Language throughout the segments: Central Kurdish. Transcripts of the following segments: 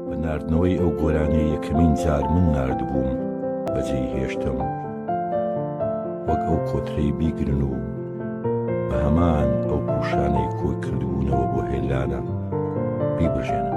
بە ناردنەوەی ئەو گۆرانیە یەکەمین جار من ناردبووم بەجێی هێشتم وەک ئەو کۆترەی بیگرن و بە هەمان ئەو پوشانەی کۆی کردبوونەوە بۆ هێلانە بیبژێنن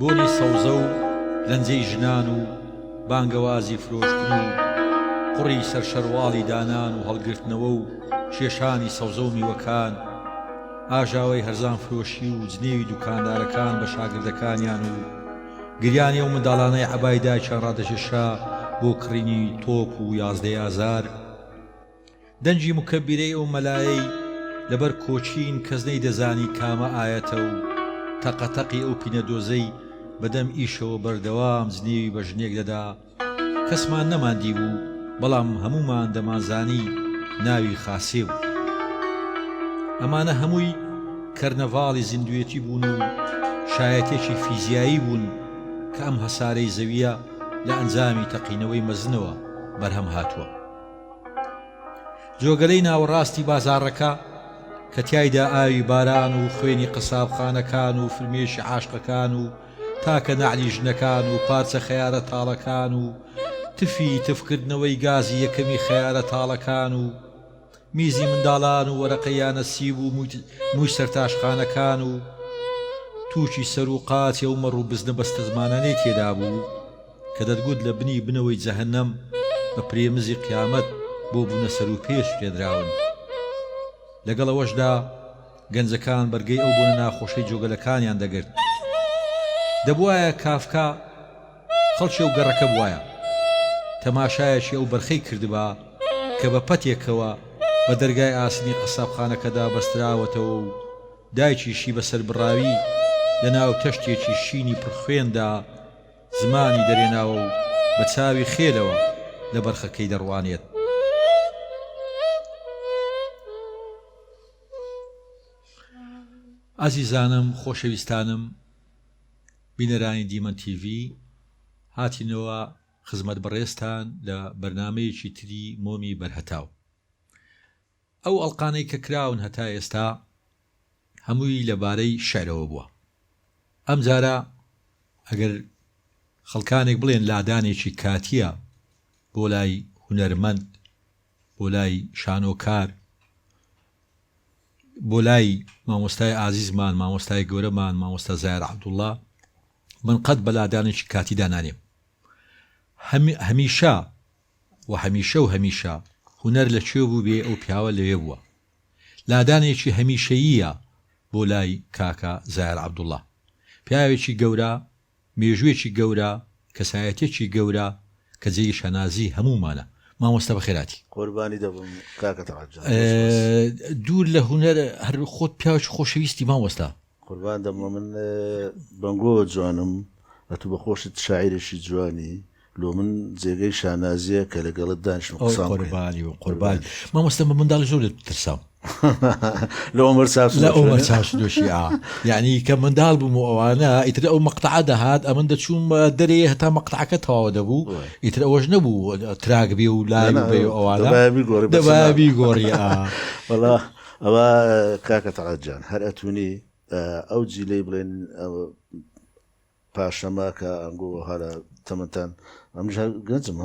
بۆنی سەوزە و لەنجەی ژنان و بانگەوازی فرۆشتن و قوڕی سەر شەرواڵی دانان و هەڵگرتنەوە و کێشانی سەوزە و میوەکان، ئاژاوەی هەرزانفرۆشی و جنێوی دوکاندارەکان بە شاگردەکانیان و گریانی ئەو منداڵانەی عەبای دایکیان ڕادەکێشا بۆ کڕینی تۆپ و یازدەی ئازار، دەنگی مکەبیرەی ئەو مەلایەی لەبەر کۆچین کەس نەیدەزانی کامە ئایەتە و تەقە تەقی ئەو پینە دۆزەی بەدەم ئیشەوە بەردەوام جنێوی بە ژنێک دەدا کەسمان نەمان دیبوو بەڵام هەموومان دەمانزانی ناوی خاسێ بوو. ئەمانە هەمووی کەرنەڤاڵی زیندووێتی بوون و شایەتێکی فیزیایی بوون کە ئەم هەسارەی زەوییە لە ئەنجامی تەقینەوەی مەزنەوە بەرهەم هاتووە. جۆگەلەی ناوەڕاستی بازاڕەکە کە تیایدا ئاوی باران و خوێنی قەسابخانەکان و فرمێشی عاشقەکان و تاکە نەعلی ژنەکان و پارچە خەیارە تاڵەکان و تفی تفکردنەوەی گازی یەکەمی خەیارە تاڵەکان و میزی منداڵان و وەرەقە یانە سیب و مووی سەرتاشخانەکان و تووشی سەر و قاچێ و مەڕ و بزنە بەستەزمانانەی تێدا بوو. کە دەتگوت لە بنی بنەوەی جەهەنەم بە پرێمزی قیامەت بۆ بونە سەروپێ سوتێنراون لەگەڵ ئەوەشدا گەنجەکان بەرگەی ئەو بۆنە ناخۆشەی جۆگەلەکانیان دەگرت دەبوایە کافکا خەڵکی ئەو گەڕەکە بوایە تەماشایەکی ئەو بەرخەی کردبا کە بە پەتێکەوە بە دەرگای ئاسنی قەسابخانەکەدا بەستراوەتەوە و دایکیشی بە سەربڕاوی لە ناو تەشتێکی شینی پڕخوێندا زمانی دەرێناوە و بە چاوی خێلەوە لە بەرخەکەی دەڕوانێت. ئازیزانم خۆشەویستانم بینەرانی دیمەن تیڤی هاتینەوە خزمەت بەڕێزتان لە بەرنمەیەکی تری مۆمی بەرهەتاو. ئەو ئەڵقانەی کە کراون هەتا ئێستا هەمووی لە بارەی شیعرەوە بووە، ئەم جارە ئەگەر خەڵکانێک بڵێن لادانێکی کاتییە بۆ لای هونەرمەند، بۆ لای شانۆکار، بۆ لای مامۆستای ئازیزمان، مامۆستای گەورەمان، مامۆستا زاهیر عەبدوڵڵا، من قەت بە لادانێکی کاتیدا نانێم. هەمیشە. وە هەمیشە و هەمیشە هونەر لە کوێ بووبێ ئەو پیاوە لەوێ بووە لادانێکی هەمیشەییە بۆ لای کاکە زایار عەبدوڵا پیاوێکی گەورە مێژووێکی گەورە کەسایەتیەکی گەورە کە جێی شانازی هەموومانە مامۆستا بەخێراتی. قوربانی دەبم کاکە تەڵعەت جان. دوور لە هونەر هەر خۆت پیاوێکی خۆشەویستی مامۆستا. قوربان دەم لۆ من بەنگۆ جوانم ئەتو بە خۆشت شاعیرێکی جوانی لۆ من جێگەی شانازیە کە لەگەڵت دانیشم قسان بکەین. قوربانی و قوربان مامۆستا من منداڵی زۆر لێت ترسام لە عمر ساس لە ئەوە چاش دۆشی ئا یعنی کە منداڵ بووم و ئەوانە ئیتر ئەو مەقتەعە دەهات ئەمن دەچووم دەرێ هەتا مەقتەعەکە تەواوە دەبوو ئیتر ئەوەش نەبوو تراک بێ و لای بێ و ئەوانە دەبابی گۆڕی ئا وەڵا ئەوە کاکە تەڵعەت جان هەر ئەتونی ئەو جیلەی بڵێن پاشەمە کە ئەنگۆ هەرە تەمەتان ئەمژ گەنجم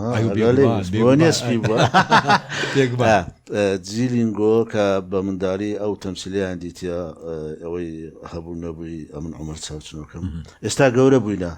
نێسپی جیلینگۆ کە بە منداری ئەو تەمسیلیان دیتە ئەوەی هەبوو نەبووی ئەمن عمر چاوچنەکەم ئێستا گەورە بووینە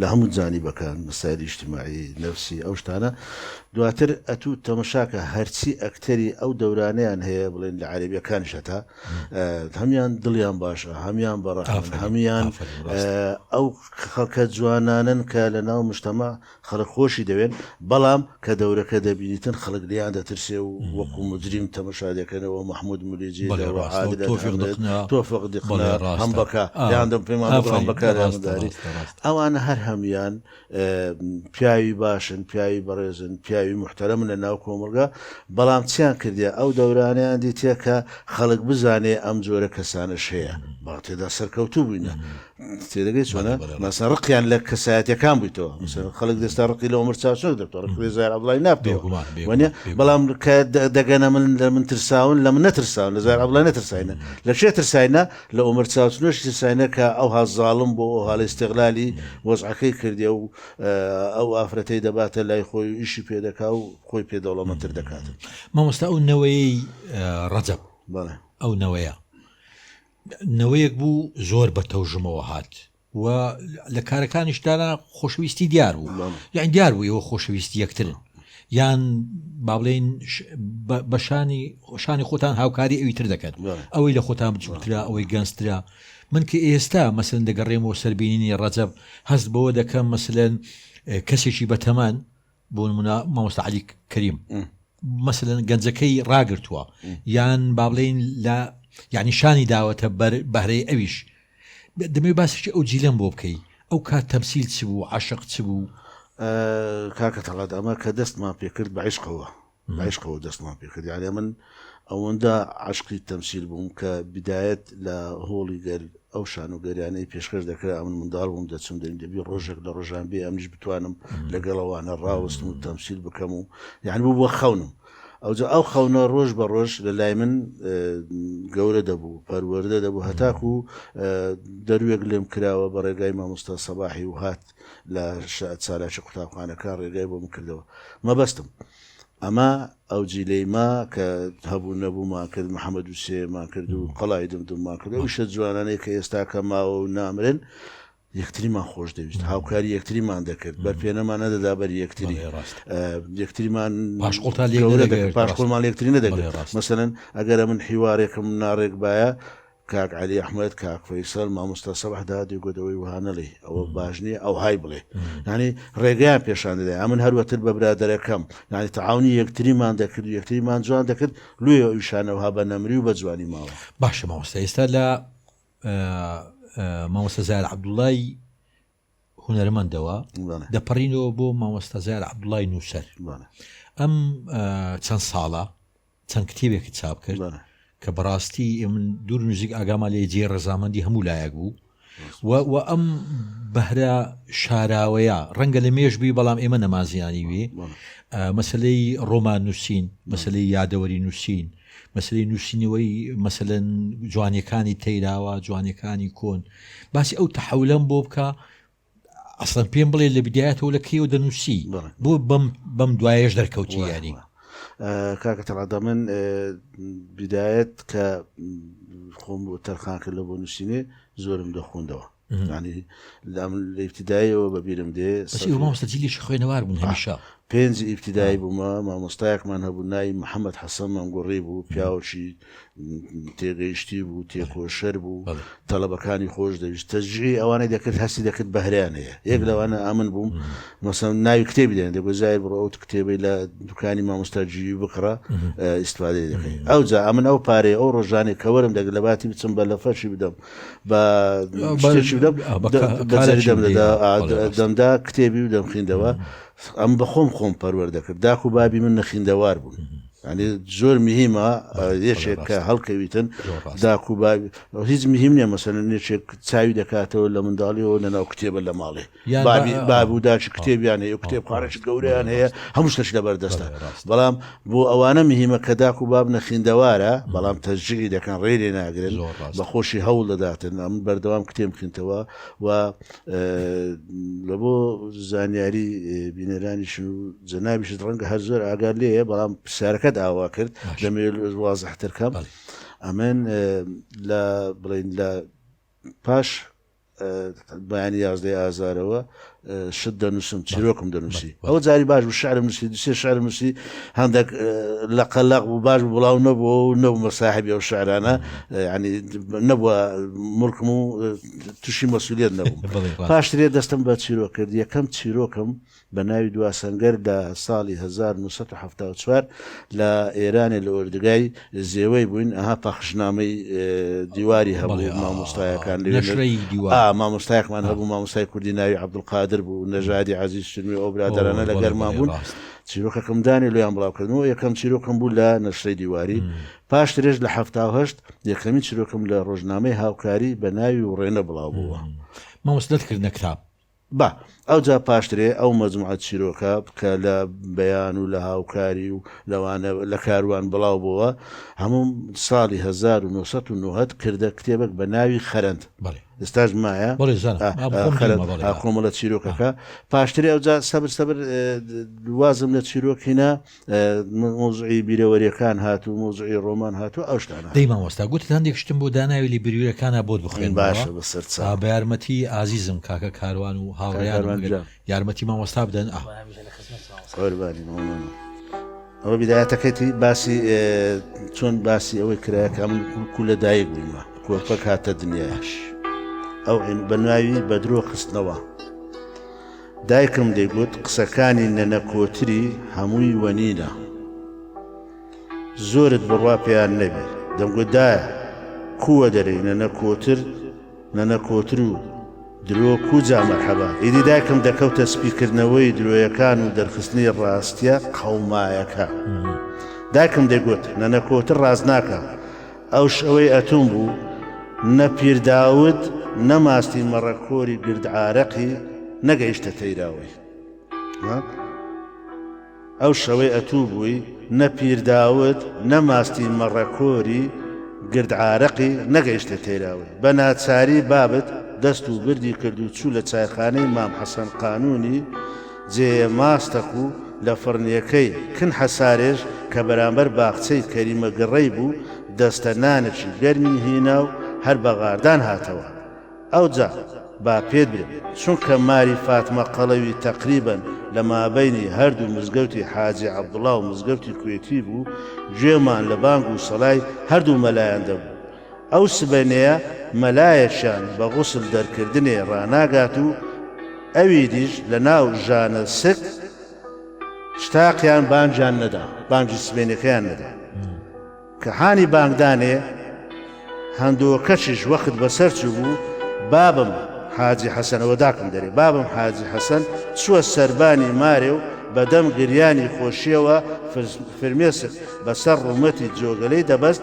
لە هەموو جانیبەکان، مەسایلی ئیجتماعی، نەفسی، ئەو شتانە، دواتر ئەتوو تەمەشاکە هەرچی ئەکتەری ئەو دەورانەیان هەیە بڵێن لە عەرەبیەکانیش هەتا هەمیان دڵیان باشە هەمیان بە ڕەحمن هەمیان ئەو خەڵکە جوانانن کە لە ناو مشتەمە خەڵک خۆشی دەوێن بەڵام کە دەورەکە دەبینیتن خەڵک لێیان دەترسێ و وەکو موجریم تەمەشا دەکەنەوە محمود مولیجی بەڵێ لە ڕاستە و عادلەت تۆفیق ئەمرێت دقنە تۆفق بەڵێ دقنە ڕاستە هەمبەکە ئا لێیان دەم پێمان بڵێ ئافەرین هەمبەکە لێیان ڕاستە داری ڕاستە ڕاستە ئەوانە هەر هەموویان اه، پیاوی باشن پیاوی بەڕێزن پیاوی موحتەرەمن لە ناو کۆمەڵگا بەڵام چیان کردیە ئەو دەورانەیان دیتیە کە خەڵک بزانێ ئەم جۆرە کەسانەش هەیە بەڵام تێدا سەرکەوتوو بووینە تێدەگەی چۆنە مەسە ڕقیان لە کەسایەتەکان بوویتەوە خەڵک دەستا ڕقی لە ئەمر چاچۆک دەکتەوە ڕقی زار عبدڵی نابێوانە بەڵام دەگەنە من لە من ترساون لە من نەترساون لە زار عبدڵی نەترساینە لە شێ ترساینە لە ئەمر چاچنۆش ترساینە کە ئەو هازاڵم بۆ ئەو هاڵی استغلالی وەزعەکەی کردی و ئەو ئافرەتەی دەباتە لای خۆی ئیشی پێ دەکا و خۆی پێ دەوڵەمەتر دەکات مامۆستا ئەو نەوەی ڕەجەب ئەو نەوەیە نەوەیەک بوو زۆر بە تەوژمەوە هات و لە کارەکانیش دانا خۆشەویستی دیار بوو یان دیار بوو ئەوە خۆشەویستی یەکترن یان بابلین بەشانی خۆشانی خۆتان هاوکاری ئەوی تر دەکەن ئەوەی لە خۆتان بچوترا ئەوەی گەنجترا من کە ئێستا مەسن دەگەڕێمەوە سەربینینی ڕەجەب هەست بەوە دەکەم مەسلەن کەسێکی بەتەمان بۆ نمونە مامۆستا علی کەریم مەسەن گەنجەکەی ڕاگرتووە یان با بڵین لە یعنی شانی داوەتە بەر بەهرەی ئەویش دەمێ باسێکی ئەو جیلەم بۆ بکەی ئەو کات تەمسیل چ بوو عاشق چ بوو کاکە تەڵات ئەمە کە دەستمان پێکرد بە عیشقەوە بەعیشقەوە دەستمان پێ کرد یانێ من ئەوەندە عەشقی تەمسیل بووم کە بیدایەت لە هۆڵی گەل ئەو شانۆگەریانەی پێشکەش دەکرا ئەمن منداڵ بووم دەچووم دەرین دەبی ڕۆژێک لە ڕۆژان بێ ئەمنیش بتوانم لەگەڵەوانە ڕاوستم و تەمسیل بکەم و یان بوو بۆ خەونم ئەوجا ئەو خەونە ڕۆژ بە ڕۆژ لە لای من گەورە دەبوو پەروەەردە دەبوو هەتاکو دەروێک لێم کراوە بە ڕێگای مامۆستا سەباحی و هات لە چالاکی قوتابخانەکە ڕێگای بۆ بکردەوە مەبەستم ئەمە ئەو جیلەی ما کە هەبوو نەبوومان کرد محەممەد و سێمان کرد و قەڵای دم دومان کرد و شە جوانانەیە کە ئێستا کە ماوە و نامرن یەکتریمان خۆش دەویست هاوکاری یەکتریمان دەکرد بەر پێێنەمان نەدەدا بەر یەکتری ڕاست یەکتریمان پاشقلتا لێ پاشقلمان یەکتری نەدەگرێت مەسەن ئەگەرە من حیوارێکم ناڕێک باە کاک علی احمد کاک فەیسەل مامۆستا سەبح دادی گۆ دەوەی وها نەڵی ئەوە باش نییە ئەو های بڵێ ینی ڕێگەیان پێشان دەدا ئەمن هەروەتر بە برادەرەکەم ینی تەعاونی یەکتریمان دەکرد و یەکتریمان جوان دەکرد لێ ئەویشانەوها بە نەمری و بە جوانی ماوە باشە مامۆستا ئێستا لە مامۆستا زار عبدوڵای هونەرمەندەوە دەپەڕینەوە بۆ مامۆستا زار عبدوڵای نووسەر ئەم چەند ساڵە چەند کتێبێکی چاپ کرد کە بەڕاستی من دوور نوزیک ئاگاما لێ جێ ڕزامەندی هەموو لایەک بوو و ئەم بەهرە شاراوەیە ڕەنگە لە مێشبی بەڵام ئێمە نەمازیانی وێ مەسلەی ڕۆمان نووسین مەسلەی یادەوەری نووسین مەسەلەی نووسینەوەی مەسەلەن جوانیەکانی تەیراوە جوانیەکانی کۆن باسی ئەو تەحولەم بۆ بکە ئەسڵەن پێم بڵێ لە بدایەتەوە لە کێو دەنووسی بۆ بەم بەم دوایش دەرکەوتی یاری کاکە تەڕادا من بدایەت کە خۆم بۆ تەرخانکە لە بۆ نووسینێ زۆرم دەخوندەوە ینی لام لە ئیبتدایەوە بە بیرم دێ مامۆستەجیلیشی خوێنەوار بوون هەمیشە پێنج ئیبتدای بوومە مامۆستایەکمان هەبوو ناوی محەممەد حەسەن مەنگوڕی بوو پیاوەشی تێگەیشتی بوو تێکۆشەر بوو تەلبەکانی خۆش دەویست تەجی ئەوانەی دەکرد هەستی دەکرد بەهریان هەیە یەک لەوانە ئامن بووم مەسەن ناوی کتێبی دێن دەگوزای بڕ ئەوت کتێبی لە دوکانی مامۆستاجی بکڕە ئیسفادەی دەکەین ئەو جا ئەمن ئەو پارەیە ئەو ڕۆژانێک کەوەرم دەگرت لە باتی بچم بە لە فەرشی بدەم بە شتێکی بدەم بەجاری دەم دەدا دەمدا کتێبی و دەمخیندەوە ئەم بەخۆم خۆم پەروەەر دەکرد داک و بابی من نەخیندەوار بوون. ئەنی زۆر مهمە یەکێک کە هەڵکەویتن داکو هیچ مهم نیە مەسەن نێچێک چاوی دەکاتەوە لە منداڵیەوە لەناو کتێبە لە ماڵێ باب و داچ کتێبیان هەیە کتێبخانەی گەورەیان هەیە هەموو شتەش لەبەر دەستە بەڵام بۆ ئەوانە مهمە کە داک و باب نەخیندەوارە بەڵام تەرجیعی دەکەن ڕێرێ ناگرن بە خۆشی هەوڵ دەداتن ئەم بەردەوام کتێم بخینتەوە و لە بۆ زانیاری بینەرانیش و جەنابیشت ڕەنگە هەر زۆر ئاگار لێە بەڵام پرسیارەکەت ئاوا کرد دەمێ وازحتر کەم ئەمن لە بڵین لە پاش بەیانی یازدەی ئازارەوە شت دەنووسم چیرۆکم دەنووسی ئەو جاری باش و شعرم نووسی دوسێ شعرم نووسی هەندێک لە قەلق و باش بڵاو نەبووە و نەبوومە ساحبی ئەو شعرانە ینی نەبووە ملکم و تووشی مەسوولێت نەبووم پاشترێ دەستم بە چیرۆکرد یەکەم چیرۆکم بە ناوی دوا سەنگەر لە ساڵی هەزار و نۆ سەد و حەفتا و چوار لە ئێرانێ لە ئۆردگای زێوەی بووین ئەها پەخشنامەی دیواری هەبوو مامۆستایەکان لەوێ نەشرەی دیوار ئا مامۆستایەکمان هەبوو مامۆستای کوردی ناوی عەبدولقادر بوو نەژادی عەزیز شنوێ ئەو برادەرانە لە گەرما بوون چیرۆکەکەم دانێ لێیان بڵاوکردنەوە یەکەم چیرۆکم بوو لە نەشرەی دیواری پاش درێژ لە هەفتا و هەشت یەکەمین چیرۆکم لە ڕۆژنامەی هاوکاری بە ناوی وڕێنە بڵاو بووە مامۆست دەرکردنە کتاب با ئەوجا پاشترێ ئەو مەجموعە چیرۆکە کە لە بەیان و لە هاوکاری و لەوانە لە کاروان بڵاو بۆوە هەموو ساڵی هەزار و نۆ سەد و نۆهەد کردە کتێبەک بە ناوی خەرەند. بەڵێ. ئێستاش مایە. بەڵێ زانم. ئا ئا خۆم خەرەند دیومە بەڵێ. ئا کۆمەڵە چیرۆکەکە. پاشترێ ئەوجا سەبر سەبر وازم لە چیرۆک هینا. مەوزعی بیرەوەریەکان هات و مەوزعی ڕۆمان هات و ئەوشتانە دەی مامۆستا گوتت هەندێک شتم بۆ داناوی لە بیرویرەکانا بۆت بخوێن باشە بە سەر چا بە یارمەتی ئازیزم کاکە کاروان و هاوڕێیان یارمەتی مامۆستا بدەن ئا قوربانی مامۆستا ئەوە بدایەتەکەتی باسی چۆن باسی ئەوەی کرایەکە من کو لە دایک بوومە کۆپەک هاتە دنیاش ئەو بە ناوی بە درۆ خستنەوە دایکم دەیگوت قسەکانی نەنە کۆتری هەمووی وەنینە زۆرت بڕوا پێیان نەبی دەمگوت دایە کووە دەرێی نەنە کۆتر نەنە کۆتر و درۆ کوجا مەرحەبا ئیدی دایکم دەکەوتە سپیکردنەوەی درۆیەکان و دەرخستنی ڕاستیە قەومایەکە دایکم دەگوت نەنە کۆتر ڕاست ناکە ئەو شەوەی ئەتووم بوو، نە پیر داود، نە ماستی مەڕە کۆری گردعارەقی نەگەیشتە تەیراوەی. ها؟ ئەو شەوەی ئەتوو بووی، نە پیر داود، نە ماستی مەڕە کۆری گردعارەقی نەگەیشتە تەیراوەی. بە ناچاری بابت دەست و بردی کرد و چوو لە چایخانەی مام حەسەن قانوونی، جێیە ماستەک و لە فڕنیەکەی کن حەسارێژ کە بەرامبەر باخچەی کەریمە گڕەی بوو دەستە نانێکی گەرمی هینا و هەر بە غاردان هاتەوە ئەوجا با پێت برێ چونکە ماری فاتمە قەڵەوی تەقریبەن لە مابەینی هەردوو مزگەوتی حاجی عەبدوڵا و مزگەوتی کوێتی بوو گوێمان لە بانگ و سەڵای هەردوو مەلایان دەبوو ئەو سبەینێیە مەلایەکشان بە غوسل دەرکردنێ ڕاناگات و ئەویدیش لە ناو ژانە سک شتاقیان بانگیان نەدا، بانگی سبەینێکەیان نەدا. کە حانی بانگدانێ هەندۆکەکیش وەخت بەسەر چوو بوو، بابم حاجی حەسەنەوە داکم دەرێ، بابم حاجی حەسەن چووە سەربانی مارێ و بە دەم گریانی خۆشییەوە فرمێسک بە سەر ڕوومەتی جۆگەلەی دەبەست،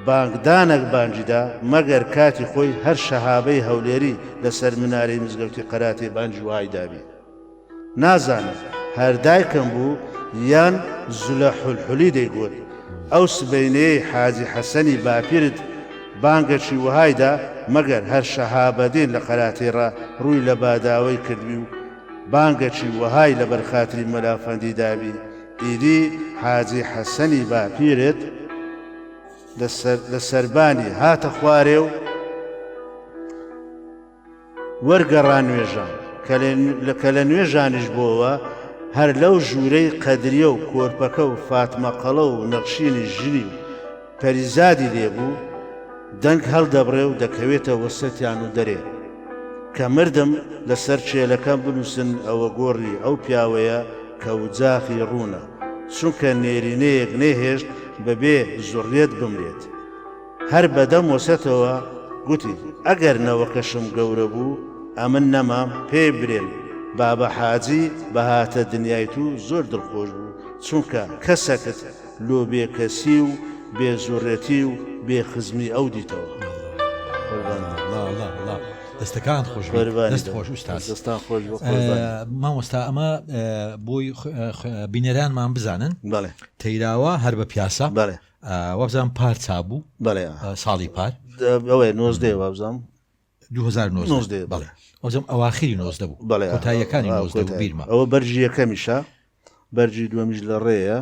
بانگدانەک بانگی دا، مەگەر کاتی خۆی هەر شەهابەی هەولێری لە سەر منارەی مزگەوتی قەراتێ بانگی وەهای دابی. نازانم هەر دایکم بوو یان زلە حولحولی دەیگوت، ئەو سبەینێیەی حاجی حەسەنی باپیرت بانگەکی وەهای دا، مەگەر هەر شەهابەدین لە قەراتێڕا ڕووی لە باداوەی کردبی و بانگەکی وەهای لە بەر خاتری مەلا فەندی دابی، ئیدی حاجی حەسەنی باپیرت لە سەربانی هاتە خوارێ و وەرگەڕا نوێژان کە لە نوێژانیش بۆوە هەر لەو ژوورەی قەدریە و کۆرپەکە و فاتمەقەڵە و نەخشینی ژنی و پەریزادی لێ بوو، دەنگ هەڵدەبڕێ و دەکەوێتە وەسەتیان و دەرێ، کە مردم لە سەر چێلەکەم بنووسن ئەوە گۆڕی ئەو پیاوەیە کە وجاخی ڕوونە، چونکە نێرینەیەک نەیهێشت بە بێ زوڕیەت بمرێت. هەر بە دەم وەسەتەوە گوتی، ئەگەر نەوەکەشم گەورە بوو، ئەمن نەمام، پێی برێن، بابە حاجی بە هاتە دنیای تو زۆر دڵخۆش بوو، چونکە کەسەکت، لۆ بێ کەسی و بێ زوڕێتی و بێ خزمی ئەو دیتەوە. دەستەکان خۆش دەست خۆش دەستان خۆش مامۆستا ئەمە بۆی بینەرانمان بزانن بەڵێ تەیراوە هەر بە پیاسە بەڵێ وەبزان پارچا بوو بەڵێ ساڵی پار ئەوەیە نۆزدەێ وابزانام 2019 بەڵێ وەزم ئەواخری نۆزدە بوو بەڵێ تایەکانی نۆزدە بیرمە ئەوە بەرجی یەکەمیشە بەرجی دووەمیش لە ڕێیە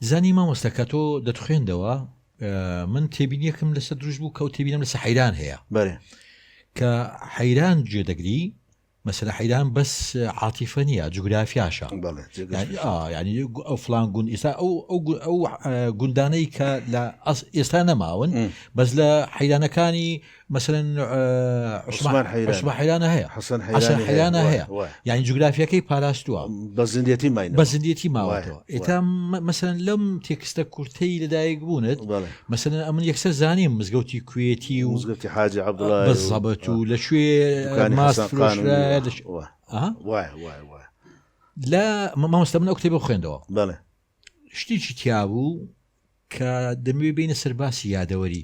زانی مامۆستا کە تۆ دەتخوێندەوە من تێبینیەکەم لەسەر دروست بوو کەوت تێبینم لەسە حەیران هەیە بەێ کە حەیران جێ دەگری مەسەر حەیران بەس عاتیفە نیە جوگرافیاشە ینی ئەو فلان گوند ئێستا ئەو ئەو گوندانەی کە لە ئێستا نەماون بەس لە حەیرانەکانی مثلەن عوسمان حەیرانە هەیە حەسەن حەیرانە هەیە یعنی جوگرافیەکەی پاراستووە بە زندێتی مای بە زندێتی ماوەتەوە ئێتا مثلەن لەم تێکستە کورتەی لەدایک بوونت مثلەن ئەمن یەکسەر زانیم مزگەوتی کوێتی و مزگەوتی حاجی عبدڵزەبەت و لە کوێ لە مامۆستا من ئەو کتێبە خوێندەوە بەڵێ شتێکی تیابوو کە دەموێ بینە سەرباسی یادەوەری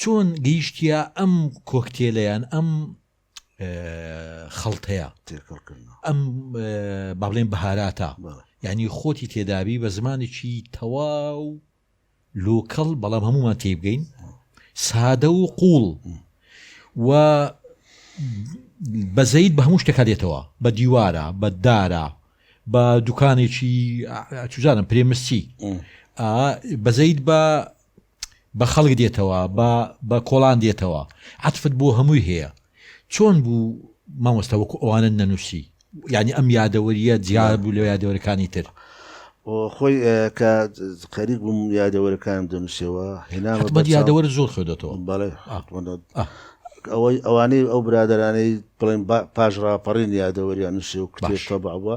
چۆن گەیشتیە ئەم کۆکتێلەیان ئەم خەڵتەیە ئەم بابلێن بەهاراتە ینی خۆتی تێدابی بە زمانێکی تەواو لۆکەڵ بەڵام هەمومان تێ بگەین سادە و قوڵ و بەزەیت بە هەموو شتەکە دێتەوە بە دیوارە بە دارە بە دوکانێکی چزانم پرێمسی بەزەیت بە بە خەڵک دێتەوە بە بە کۆڵان دێتەوە عەتفت بۆ هەمووی هەیە چۆن بوو مامۆستا وەکو ئەوانە نەنووسی یعنی ئەم یادەوەریە جیا بوو لە یادەوەرەکانی تر خۆی کە خەریک بووم یادەوەرەکان دەنووسەوە هێنامە یادەوەر زۆر خوێدەەوە بەڵێ ئەوەی ئەوانەی ئەو برادرانەی بڵێن پاش ڕاپەڕین یادەوەریان نووسێ و کتێشتە بەوە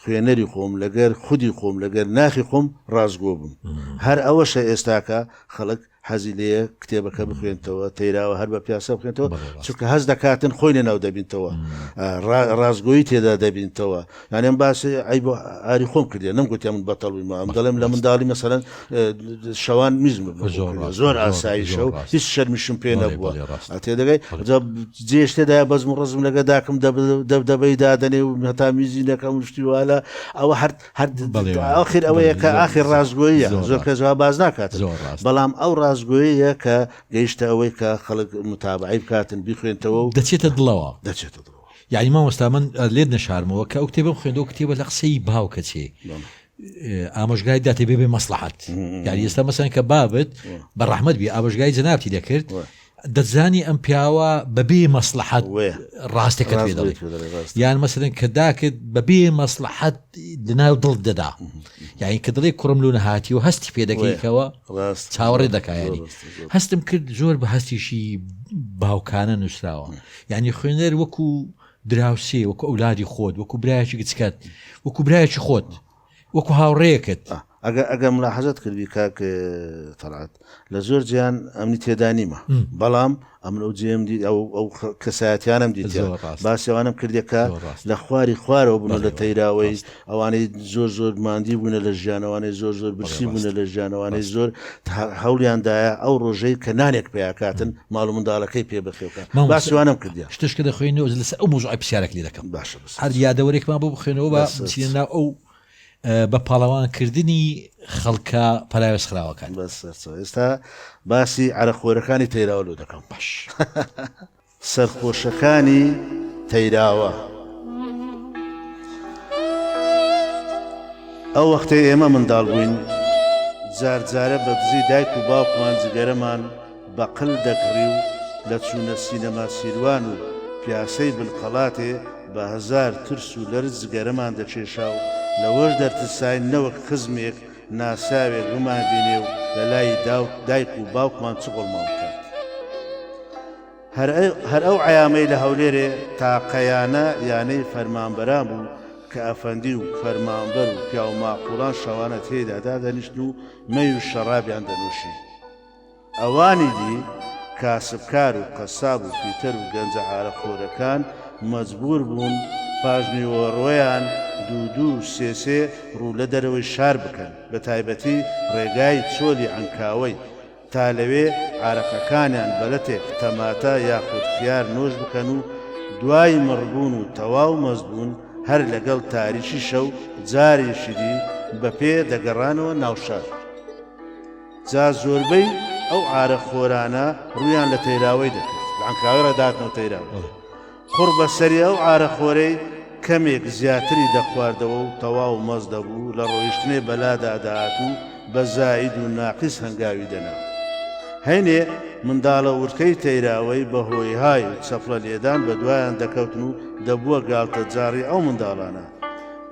خوێنەری خۆم، لەگەر خودی خۆم، لەگەر ناخی خۆم ڕاستگۆ بم. هەر ئەوەشە ئێستاکە خەڵک حەزی لێیە کتێبەکە بخوێنتەوە، تەیراوە هەر بە پیاسە بخوێنتەوە، چونکە هەست دەکاتن خۆی لەناو دەبینتەوە، ڕاستگۆیی تێدا دەبینتەوە. یانێ من باسی عەیب و ئاری خۆم کردیە، نەمگوتیە من بەتەڵ بوویمەوە، ئەمن دەڵێم لە منداڵی مەسەلەن، شەوان میزم زۆر ئاساییشە و هیچ شەرمیشم پێ نەبووە تێ دەگەی جێشتێدا بەزم و ڕزم لەگە داکم دەبدەبەی دادەنێ و هەتا میزی نەکەم شتی والا ئەوە هەر هەر ئاخر ئەوەیە کە ئاخر ڕاستگۆیە زۆر کە جواب باز ناکات بەڵام ئەو ڕاستگۆیە کە گەیشتە ئەوەی کە خەڵک متابعی بکاتن بیخوێنتەوە و دەچێتە دڵەوە دەچێتە دڵەوە یعنی مامۆستا من لێت نەشارمەوە کە ئەو کتێبم خوێندەوە کتێبە لە قسەی باوکە چێ ئامۆژگای داتێ بێ بێ مەسلحەت یاری ئێستا مەسەن کە بابت بە ڕحمد بی ئامۆژگای جەنابتی دەکرد دەزانی ئەم پیاوە بەبێ مەسلحەت ڕاستەکە پێ دەڵێت یان مەسەن کە داکرد بەبێ مەسلحەت دناو دڵ دەدا یعنی کە دڵێک کوڕم لو نەهاتی و هەستی پێ دەکەیتەوە چاوەڕێ دەکایانی هەستم کرد زۆر بە هەستیشی باوکانە نووسراوە یعنی خوێنەر وەکو دراوسێ، وەکو ئەولادی خۆت، وەکو برایەکی گچکەت، وەکو برایەکی خۆت، وەکو هاوڕێیەکت. ئەگەر ئەگەر ملاحەزەت کردبی کاک تەڵعەت لە زۆر جێیان ئەمنی تێدا نیمە، بەڵام ئەمن ئەو جێم دیت ئەو ئەو کەسایەتیانم دیت زۆر ڕاست باسی ئەوانەم کردێک کە زۆر ڕاست. لە خواری خوارەوە بوون و لە بەڵێ، تەیراوەی ڕاستە. ئەوانەی زۆر زۆر ماندی بوونە لە ژیان ئەوانەی زۆر زۆر برسی بوونە لە ژیان ئەوانەی زۆر هەوڵیان دایە ئەو ڕۆژەی کە نانێک پیاکاتن ماڵ و منداڵەکەی پێ بخێوکە باسیوانم کردیا شتشکە دەخوێنەوە لەسەر ئەو مۆزۆی پرسیارێک لێ دەکەم باشە هەر یادەوەرێکمان بۆ بخوێنەوە بە سینا ئەو بە پاڵەوانکردنی خەڵکە پەراوێز خراوەکان بەس ئێستا باسی عرەخۆرەکانی تەیراوە لۆ دەکەم باش. سەرخۆشەکانی تەیراوە. ئەو وەختەی ئێمە منداڵ بووین، جار جارە بە دزی دایک و باوکمان جگەرەمان بە قل دەکڕی و لە چوونە سینەما سیروان و پیاسەی بنقەڵاتێ بە هەزار ترس و لەرز جگەرەمان دەکێشا و لەوەش دەرترساین نەوەک خزمێک ناساوێت بمانبینێ و لەلای دایک و باوکمان چ قۆڵمان بکات. هەر ئەو عەیامەی لە هەولێرێ تاقەیانە یانەی فەرمانبەران بوو کە ئەفەندی و فەرمانبەر و پیاوماقوڵان شەوانە تێیدا دادەنیشتن و مەی و شەڕابیان دەنووشی. ئەوانی دی کاسبکار و قەساب و فیتەر و گەنجە عارەق خۆرەکان مەجبوور بوون پاش نیوەڕۆیان دوو دوو و سێ سێ ڕوو لە دەرەوەی شار بکەن، بە تایبەتی ڕێگای چۆلی عەنکاوەی، تا لەوێ عارەقەکانیان بە لەتێک تەماتە یاخود خیار نۆش بکەن و دوای مڕبوون و تەواو مەست بوون هەر لەگەڵ تاریکی شەو جارێکی دی بە پێ دەگەڕانەوە ناو شار. جا زۆربەی ئەو عارە خۆرانە ڕوویان لە تەیراوەی دەکرد لە عەنکاوەی ڕێ دەهاتنەوە تەیراوە قوڕ بە سەری ئەو عارە خۆرەی کەمێک زیاتری دەخواردەوە و تەواو مەز دەبوو لە ڕۆیشتنێ بەلادا دەهات و بە زاید و ناقیس هەنگاوی دەنا هەینێ منداڵە ورکەی تەیراوەی بە هۆی های و چەپڵە لێدان بە دوایان دەکەوتن و دەبووە گاڵتە جاڕی ئەو منداڵانە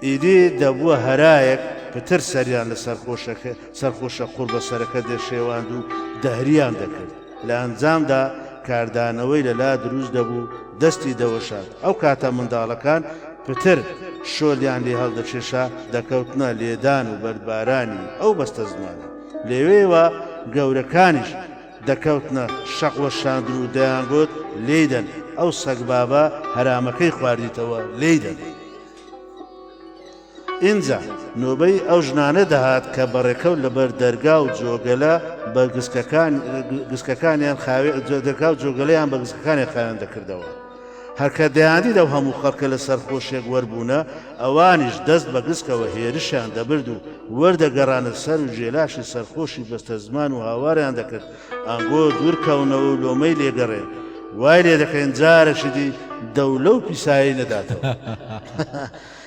ئیدی دەبووە هەرایەک پتر سەریان لە سەرخۆشەکە سەرخوشە قوڕ بە سەرەکە دەشێواند و دهریان دەکرد، لە ئەنجامدا کاردانەوەی لە لا دروست دەبوو، دەستی دەوەشاند، ئەو کاتە منداڵەکان پتر شۆلیان لێ هەڵدەکێشا، دەکەوتنە لێدان و بەردبارانی ئەو بەستەزمانە، لەوێوە گەورەکانیش دەکەوتنە شەق وەشاندن و دەیانگوت، لێیدەن، ئەو سەگبابە هەرامەکەی خواردیتەوە، لێیدەن. ئینجا نۆبەی ئەو ژنانە دەهات کە بەڕێکەوت لەبەر دەرگا و جۆگەلە بە گسکەکان گسکەکانیان خاوێ دەرگا و جۆگەلەیان بە گسکەکانیان خاوێن دەکردەوە. هەرکە دەیاندید ئەو هەموو خەڵکە لە سەرخۆشێک وەربوونە، ئەوانیش دەست بە گسکەوە هێرشیان دەبرد و وەردەگەڕانە سەر و جێلاشی سەرخۆشی بەستەزمان و هاواریان دەکرد ئەنگۆ دوورکەونەوە و لۆمەی لێگەڕێن. وای لێدەکەین جارەکی دی دەو لەو پیسایەی نەداتەوە.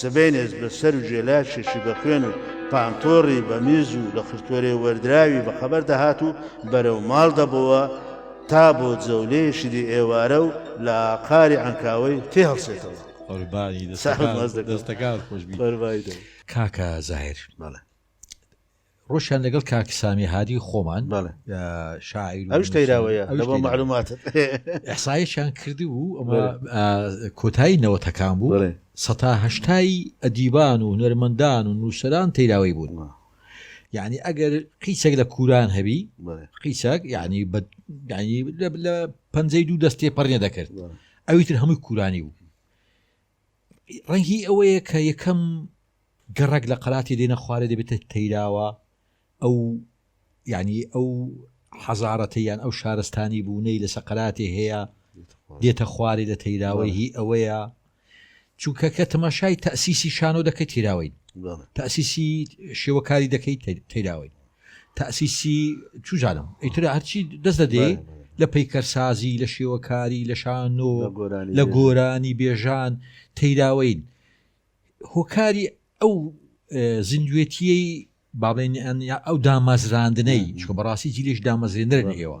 سبەینێس بە سەر و جێلاشێکی بە خوێن و پانتۆڕی بە میز و لە خرتۆرێ وەردراوی بە خەبەر دەهات و بەرەو ماڵ دەبۆوە تا بۆ جەولەیەکی دی ئێوارە و لە ئاقاری عەنکاوەی تێ هەڵسێتەوە. قوربانی دەستەکانت خۆشبی کاکە زاهیر. ڕۆشیان لەگەڵ کاک سامی هادی خۆمان شاعیر ئەوش تەیراوەیە لەبەر معلومات ئەسایشیان کرد بوو ئەمە کۆتایی نەوەتەکان بوو سەتا هەشتایی ئەدیبان و هونەرمەندان و نووسران تەیراوی بوون یعنی ئەگەر قیچێک لە کوران هەبی قیچێک یعنی لە پەنجەی دوو دەستێ پەرێ دەکرد ئەویتر هەمووی کورانی بوو ڕەنگی ئەوەیە کە یەکەم گەڕەک لە قەلاتی دێنە خوارێ دەبێتە تەیراوە ئەو یعنی ئەو حەزارەتەیان ئەو شارستانی بوونەی لە سەقراتی هەیە دێتە خوارێ لە تەیراوەی هی ئەوەیە چونکە کە تەماشای تەسیسی شانۆ دەکەی تیراوەین تەسیسی شێوەکاری دەکەی تیراوەین تاسیسی چوزانم ئیتر هەرچی دەست دەدەی لە پەیکەرسازی لە شێوەکاری لە شانۆ لە گۆرانی بێژان تەیراوەین هۆکاری ئەو زیندوێتیەی بابێنیان یا ئەو دامەزراندنەی چکە بەڕاستی جیلش دامەزرێنەر ئێوە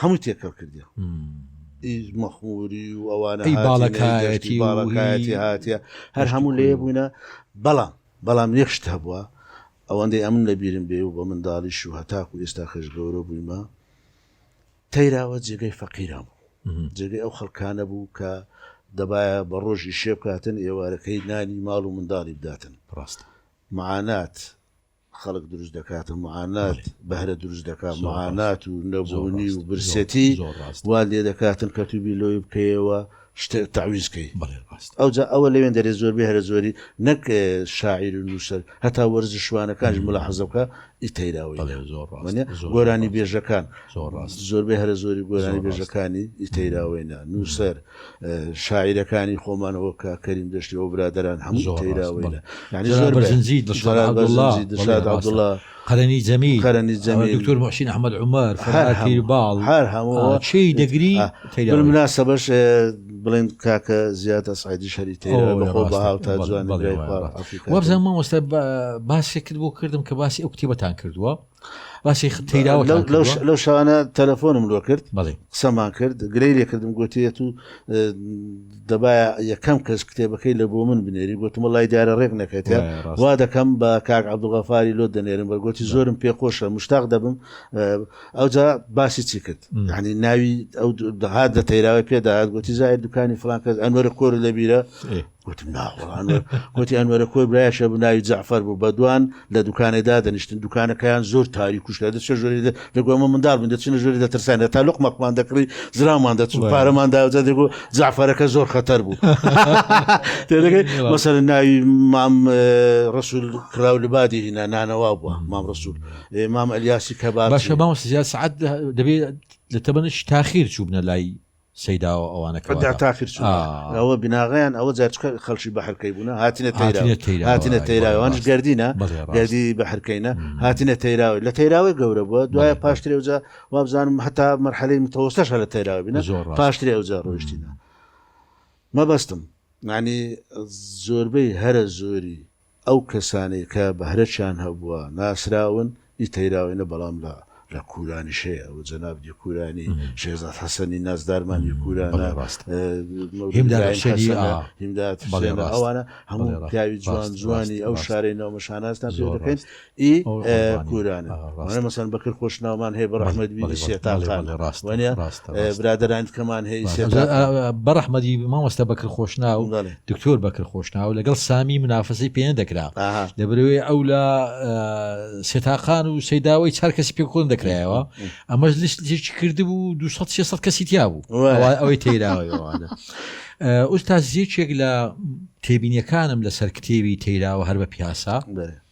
هەموو تێکەڵ کردی ئیز مەخموری و ئەوانە باڵەکایەتی باڵەکایەتی هااتە هەر هەموو لێ بووینە بەڵام بەڵام یەخشت هەبووە ئەوەندەی ئەمن لەبیرم بێ و بە منداڵیش و هەتاکو و ئێستا خەش گەورە بوویمە تەیراوە جێگەی فەقیران بوو جێگەی ئەو خەڵکانە بوو کە دەبایە بە ڕۆژی شێبکاتن ئێوارەکەی نانی ماڵ و منداڵی بداتن ڕاست معانات خەڵک دروست دەکاتو معانات بەهرە دروست دەکات معانات و نەبونی و برسێتی وات لێ دەکاتن کە توبیر لەوەی بکەیەوە شتێک تەعویز کەی ئەوجا ئەوە لەوێن دەرێ زۆر بێ هەرە زۆری نەک شاعیر و نووسەر هەتا وەرزشوانەکانش ملاحەزە بکە ئیتەیراوەی زۆر گۆرانی بێژەکان زۆر ڕاست زۆربەی هەرە زۆری گۆرانی بێژەکانی ئیتەیراوەینە نووسەر شاعیرەکانی خۆمان وەک کاک کەریم دەشتی و برادەران هەموو تەیراوەیلە یانی زۆر بەرزنجی دڵشاد عەبدوڵا دڵشاد عەبدوڵا قەرەنی جەمیل قەرەنی جەمیل دکتۆر موحسین ئەحمەد عومەر فەرهاد پیرباڵ هەر هەموو چی دەگری تەیراوەیلە بالمناسبەش بڵێن کاکە زیاد ئەسعەدیش هەری تەیراوە بە خۆ بە هاوتا جوان بەڵێ وابزانم مامۆستا باسێکت بۆ کردم کە باسی ئەو کتێبەتان کردووە باسی تیراوە لەو شانە تەلەفۆنم لۆ کرد بڵێ قسەمان کرد گرەی لێ کردم گوتێت و دەبایە یەکەم کەس کتێبەکەی لە بۆ من بنێری گوتمە لای دیارە ڕێک نەکەێت وا دەکەم بە کاک عبدوغەفاری لۆ دەنێرم بەگوتی زۆرم پێخۆشە مشتاق دەبم ئەوجا باسی چی کرد ینی ناوی ئەو دەهات دە تەیراوی پێداهات گوتی زای دوکانی فلانکەس ئەنوەرە کۆر لەبیرە گوتم ناوەڵان گوتی ئەنوەرە کۆی برایشە بناوی جەعفەر بوو بە دوان لە دوکانێ دادەنیشتن دوکانەکەیان زۆر تاری کوشکە دەچە ژۆری دەگومە منداڵ بن دەچنە ژۆری دەترسان دە تا لقمەکمان دەکڕی زرامان دەچون پارەمان داوجە دەگو جعفەرەکە زۆر خەتەر بوو مەسەر ناوی مام ڕسول کراو لبادی هینا نانەوا بووە مام ڕسول مام ئەلیاسی کە باشە مام سزیاد سعات دەبێت لە تەمەنش تاخیر چوبنە لای سەیدا و ئەوانە کە واتا. تاخیر چوون ئا. ئەوە بناغەیان ئەوە جا چ کە خەڵکی بەحر کەی بوونە هاتنە تەیرا. هاتنە تەیرا. هاتنە وای تەیرا وای ئەوانیش ڕاست گەردینە بەڵێ ڕاست گەردی بەحر کەینە مم. هاتنە تەیراوە لە تەیراوەی گەورە بووە دوایە بەڵێ بەڵێ پاشترێ ئەوجا وابزانم هەتا مەرحەلەی متەوەستەش هەر لە تەیراوە بینە زۆر ڕاست پاشترێ ئەوجا ڕۆیشتینە مم. مەبەستم یانی زۆربەی هەرە زۆری ئەو کەسانەی کە بەهرەچیان هەبووە ناسراون، ی تەیراوەینە بەڵام لە لە کورانیش هەیە ئەوە جەناب یکورانی، شێرزاد حەسەنی نازدارمان یکورانە، بەڵێ ڕاستە مەولود هیمداد ئیبراهیم حوسێنی حەسەنە، ئا هیمداد بەڵێ حوسێنە ڕاستە ئەوانە هەموو بەڵێ ڕاستە پیاوی جوان ڕاستە جوانی ڕاستە ئەو ڕاستە شارەین ئەومە شانازتان پێ زۆر دەکەین، ڕاستە. ی کورانە وانە مەسەن بەکر خۆش ناومان هەیە بەڕحمەت بیری سێتاقان ڕاست وانە برادران کەمان هەیە بەڕحمەدی مامۆستا بەکر خۆش ناو دکتۆر بەکر خۆش ناو لەگەڵ سامی منافەسی پێێن دەکرا لە برەوەی ئەو لە سێتاقان و سەداوای چار کەسی پێ کۆن دەکرایەوە ئەمەش لیستێکی کردبوو 200 کەسی تیا بوو ئەوەی تێراوەوانە ئوستا زیێکێک لە تێبینیەکانم لەسەر کتێوی تێراوە هەر بە پیاسا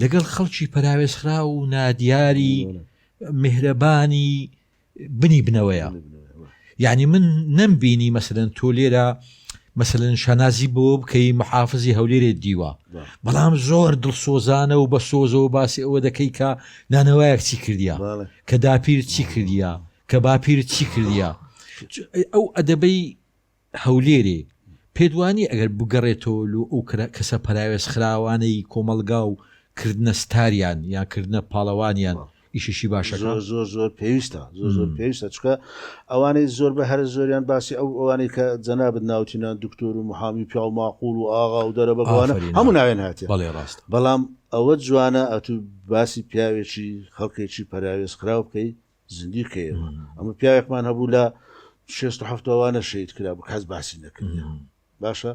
لەگەڵ خەڵکی پەراوێزخراو و نادیاری میهرەبانی بنی بنەوەیە یعنی من نەمبینی مەسەن تۆ لێرە مەسەن شانازی بۆ بکەی محافزی هەولێرێ دیوە بەڵام زۆر دڵسۆزانە و بە سۆزەوە باسی ئەوە دەکەی کە نانەوەیەک چی کردیا کە داپیر چی کردیا کە باپیر چی کردیا ئەو ئەدەبەی هەولێرێ پێت وانیە ئەگەر بگەڕێتەوە لۆ ئەو کەسە پەراوێز خراوانەی کۆمەڵگا و کردنە ستاریان یان کردنە پاڵەوانیان ئیشێکی باشە زۆر زۆر زۆر پێویستە زۆر زۆر پێویستە چکە ئەوانەی زۆر بە هەر زۆریان باسی ئەو ئەوانەی کە جەنابەت ناوتینا دکتۆر و محامی پیا و ماقول و ئاغا و دەرە بەگوانە هەموو ناوێن هااتێ بەڵێ ڕاست بەڵام ئەوە جوانە ئەتو باسی پیاوێکی خەڵکێکی پەراوێز خراو بکەیت زندیقە ئێمە ئەمە پیاوێکمان هەبوو لە شێست و هەفتەوانە شەید کرا بوو کەس باسی نەکرد باشە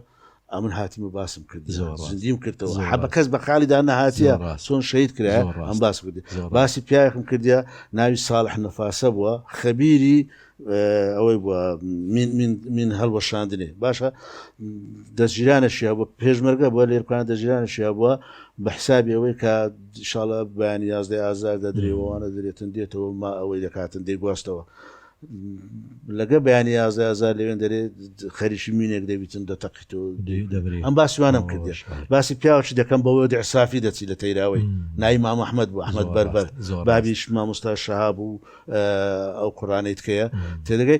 ئەمن هاتیمە باسم کرد زندیم کردەوە حەبە کەس بە خالیدا نەهاتە چۆن شەید کرا ئەم باس کرد باسی پیاوێکم کردیا ناوی ساڵح نەفاسە بووە خەبیری ئەوەی بووە من هەڵوەشاندنێ باشە دەژیرانە شیا بووە پێشمەرگە بووە لێرکان دەژیرانە شیا بووە بە حسابی ئەوەی کە شاڵە بەیانی یازدەی ئازار دەدرێ وانە درێتن دێتەوە ما ئەوەی دەکاتن دەیگواستەوە لەگە بەیانی یازدە ئازار لەوێن دەرێ خەریکی مینێک دەبیتن دەتەقیت و دەبرێ ئەم باسیوانم کردێش باسی پیاوچی دەکەم بەوە دەعسافی دەچی لە تەیراوەی نای مام ئەحمد بۆ ئەحمد بەربەر بابیش مامۆستا شەهاب و ئەو قڕانەی تکەیە تێدەگەی